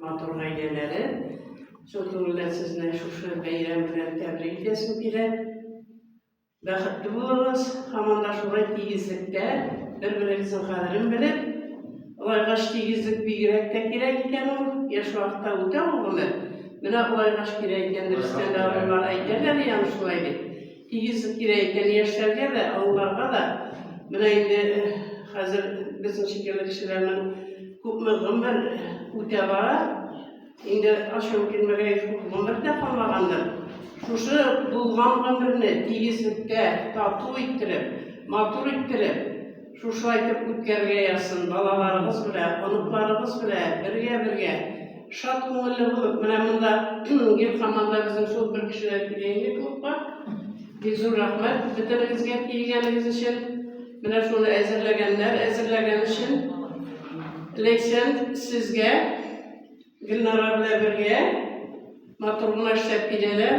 Матур гаиләләре шул күңелдән сезне шушы бәйрәм белән тәбрик итәсем килә. Бәхетле булыгыз, һаман да шулай тигезлектә, бер-берегезнең кадерен белеп, Улайгач тигезлек бигрәк тә кирәк икән ул, яшь вакытта үтә ул гомер. Менә улайгач кирәк икән дип, стендалыйлар әйтәләр икән шулай дип. Тигез кирәк икән яшьләргә дә, олыларга да. Менә инде хәзер безнең шикелле кешеләрнең күпме гомер үтә бара. Инде ачуым килмәгәй күп гомер дә калмагандыр. Шушы булган гомерне тигезлектә тату иттереп, матур иттереп, Шушылай итеп үткәрергә язсын, балаларыгыз белән, оныкларыгыз белән бергә-бергә, шат күңелле булып. Менә монда гел команда безнең шул бер кешедән килә инде клубка. Бик зур рәхмәт бөтенегезгә килгәнегез өчен. Менә шуны әзерләгәннәр, әзерләгән өчен. Ләйсән, сезгә Гөлнара белән бергә Матур гына эшләп киләләр.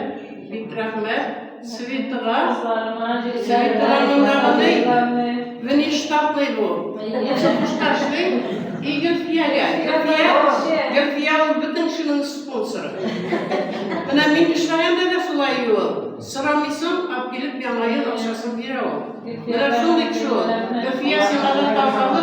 Бик рәхмәт. Светыга. Светыга мондагыны. Внештатный бу. Чокушта эшли. И Гөлфиягә. Гөлфия. Гөлфия ул бөтен кешенең спонсоры. Менә мин эшләгәндә дә шулай ул. Сорамыйсың, алып килеп яңа ел акчасын бирә ул. Менә шундый кеше ул. Гөлфия сиңа да тапшырды.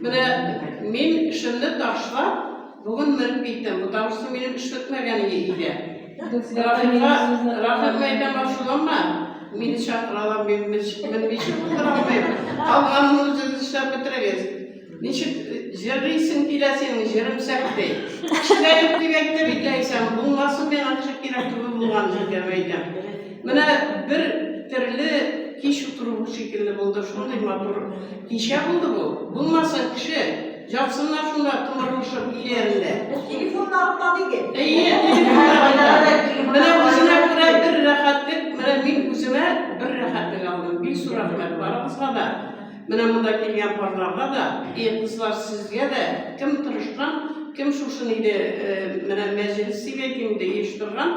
Менә мин эшемне ташлап, бүген менеп киттем, потому что минем эш бетмәгән иде өйдә. Рахимга, Рахимга әйтәм, ачуланма, мине чакыралар, мин менмичә булдыра алмыйм. Калганын үзегез эшләп бетерегез. Ничек җырлыйсың килә синең җырың сәхти. Кешегә юк дип әйтте бит Ләйсән, булмасын миңа кеше кирәк түгел булган җиргә әйтәм. Менә бер төрле кич утыру шикелле булды, шундый матур кичә булды бу. Булмаса кеше, ятсыннар шунда томырылышып өйләрендә. Без телефонны алып табыйк. Әйе, менә үзенә күрә бер рәхәтлек, менә мин үземә бер рәхәтлек алдым. Бик зур рәхмәт барыгызга да. Менә монда килгән парларга да, и кызлар сезгә дә, кем тырышкан, кем шушын иде, менә мәҗлес дигән инде оештырган.